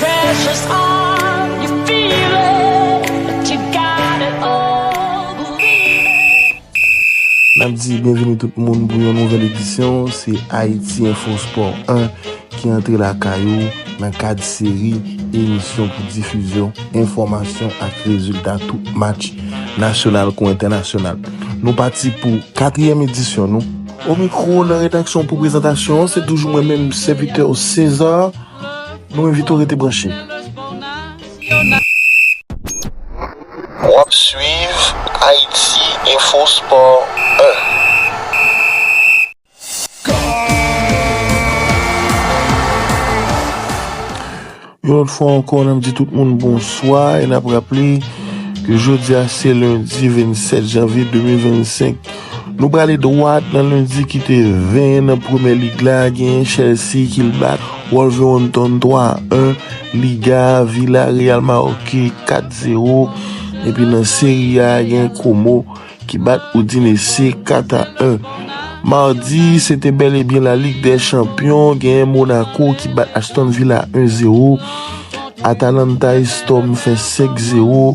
Precious arm, you feel it, but you got it all, believe it. Nap di byenvini tout moun pou yon nouvèl edisyon se Haïti Info Sport 1 ki antre lakay ou nan kad seri emisyon pou difizyon enfòmasyon ak rezilta tout match nasyonal kou entènasyonal. Nou pati pou katriyèm edisyon nou. O mikro nan redaksyon pou prezantasyon an se toujou mwen menm sèvitè w César. Nou envite w rete branche. Wap swiv Ayiti Enfo Spò 1. Yon lòt fwa ankò nap di tout moun bonswa e nap raple ke jodi a se lendi 27 janvye 2025. Nou prale dwat nan lendi ki te 20 nan premye lig la genyen Chelsea ki l bat Wolverhampton 3 a 1, Liga a Villarreal maoke 4 zero epi nan Serie A gen Como ki bat Udinese 4 a 1. Mardi se te bel e byen la Ligue des champions genyen Monaco ki bat Aston Villa 1 zero, Atalanta e Storm fè 5 zero.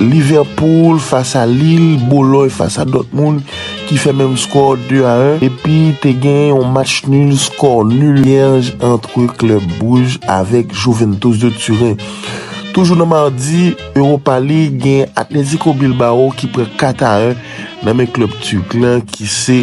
Liverpool fas a Lille, Boloy fas a Dortmund ki fè menm skò 2 a 1 epi te gen yon match nul skò nul vierj antre klub Bruges avèk Juventus de Turen. Toujou nan Mardi Europa League gen Atletico Bilbao ki pran 4 a 1 nan men klub Turk lan ki se.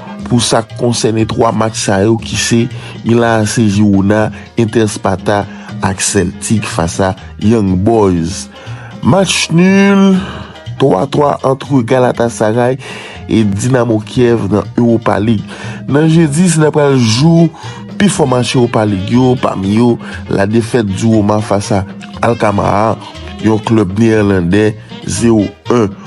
Pou sa k konsène 3 match sa yo ki se, Milan AC Girona, Inter Sparta ak Celtic fas a Young Boys. Match nul, 3 a 3 antre Galatasaray e Dinamo Kiev nan Europa League. Nan jedi se nan pral jou pi fò match Europa League yo, pami yo la defèt di Roma fas a Alkamaar, yon klub neerlandè 0 1.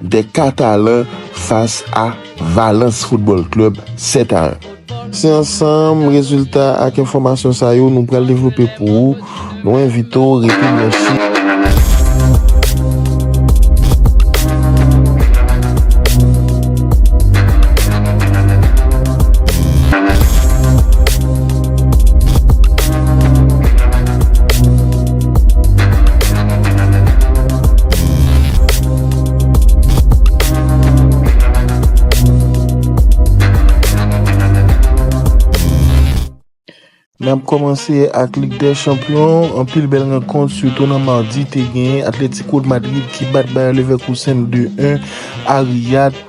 2 Catalan fas a Valence Football Club 7 a 1. Se ansanm rezilta ak enfòmasyon sa yo nou pral devlope pou ou, nou envite w rete branche. N ap kòmanse ak Lig dè Chanpyon, anpil bèl rankont sitou nan madi te gen Atletico de Madrid ki bat Bayer Leverkusen 2-1 a Riyad.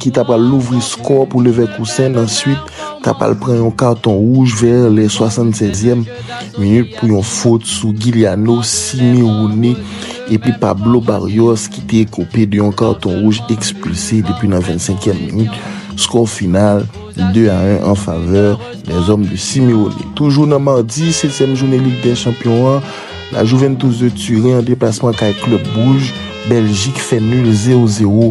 ki ta pral louvri skò pou Levèkousen nan swit ta pral pran yon katon wouj vè lè 76 èm minit pou yon fot sou Gilyano Simeone epi Pablo Barrios ki te ekope de yon katon wouj ekspilse depi nan 25 èm minit skò final 2 a 1 an favè Lèzòm de Simeone. Toujou nan madi 7 èm jounen Lig dè Chanpyon an, La Juventus de Turen an deplasman kay klèb wouj Bèljik fè nul 0 0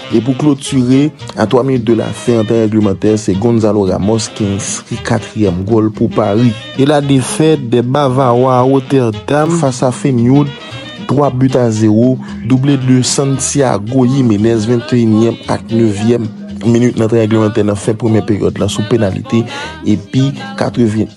E pou klotire, a 3 minit de la fen an tan règlemantè, se Gonzalo Ramos ki enskri katriyèm gòl pou Pari. E la defèt dè Bavawa a Rotterdam fas a Feyenoord, 3 but a 0, double de Santiago Jimenez 21 nyèm ak 9 yèm minit nan tan règlemantè nan fen premyè peryòd lan sou penalite epi 81.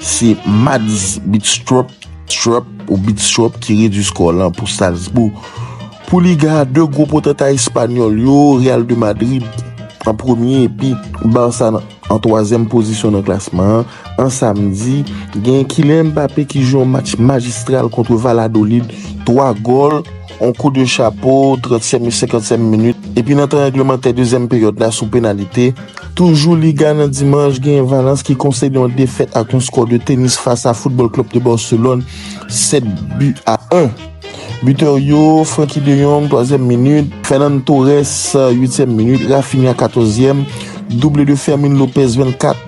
Se Mads Bidstrup, Strup ou Bidstrup ki redui skò lan pou Strasbourg pou Liga a. 2 gwo potanta espanyòl yo, Real de Madrid an premye epi Barça an twazyèm pozisyon nan klasman an. An samdi, gen Kylian Mbappé ki jwe yon match majistral kontre Valladolid, 3 gòl. On kou de chapo, 30 sèmi, 50 sèmi minit, epi nan tan règlemantè dezyèm peryòd la sou penalite, toujou Liga nan dimanch genyen Valence ki konsède yon defèt ak yon skò de tenis fas a Football Club de Barcelone, 7 bi a 1. Bitè yo, Francky de Jong, twazyèm minit, Fernan Torres, uityèm minit, Raphinha, katòzyèm, double de Fermin Lopez, 24.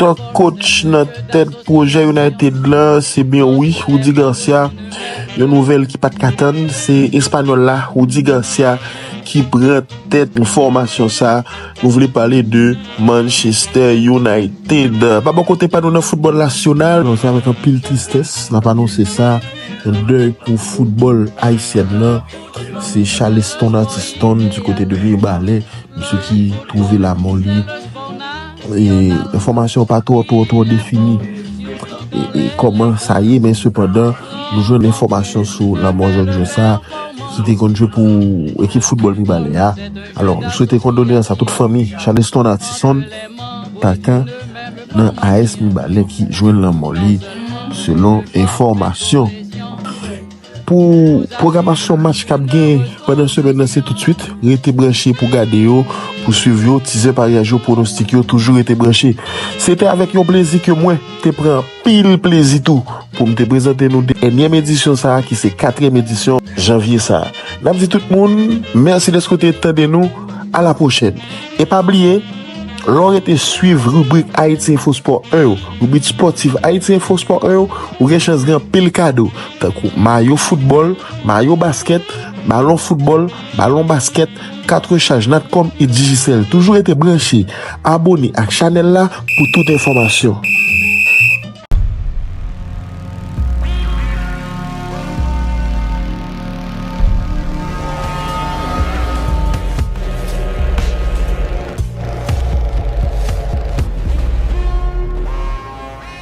Talk Coach nan tèt pwojè United la se byen wi Rudy Garcia yon nouvèl ki pat ka tann se espanyòl la Rudy Garcia ki pran tèt fòmasyon sa nou vle pale de Manchester United pa bò kote pa nou nan foutbòl nasyonal. Se avèk anpil tristès nap anonse sa yon dèy pou foutbòl ayisyèn nan se Chaleston Artiston di kote de Mirbalè misye ki twouve lamò li. Enfòmasyon pa twò twò twò defini kòman sa ye men sepandan nou jwenn enfòmasyon sou lanmò jèn jwè sa ki te konn jwe pou ekip foutbòl Mibalè a. Alò, nou swete kondoleyans a tout fanmi Charleston Artison Tanka nan AS Mibalè ki jwenn lanmò li selon enfòmasyon. Pou pwogramasyon match k ap gen pandan semèn nan se toutswit, rete branche pou gade yo, pou swiv yo, tizè paryaj yo, pwonostik yo, toujou rete branche. Se te avèk yon plezi ke mwen te pran anpil plezi tou pou m te prezante nou dènyèm edisyon sa a ki se katrèm edisyon janvye sa a. N ap di tout moun mèsi dèske w te tande nou, alapwochèn. E pa bliye, lè w rete swiv ribrik Haiti Info Sport 1 yo, ribrik spòtif Haiti Info Sport 1 yo, ou gen chans gen anpil kado, tankou mayo foutbòl, mayo baskèt, balon foutbòl, balon baskèt, kat rechaj Natcom e Digicel. Toujou rete branche, abone ak chanèl la pou tout enfòmasyon.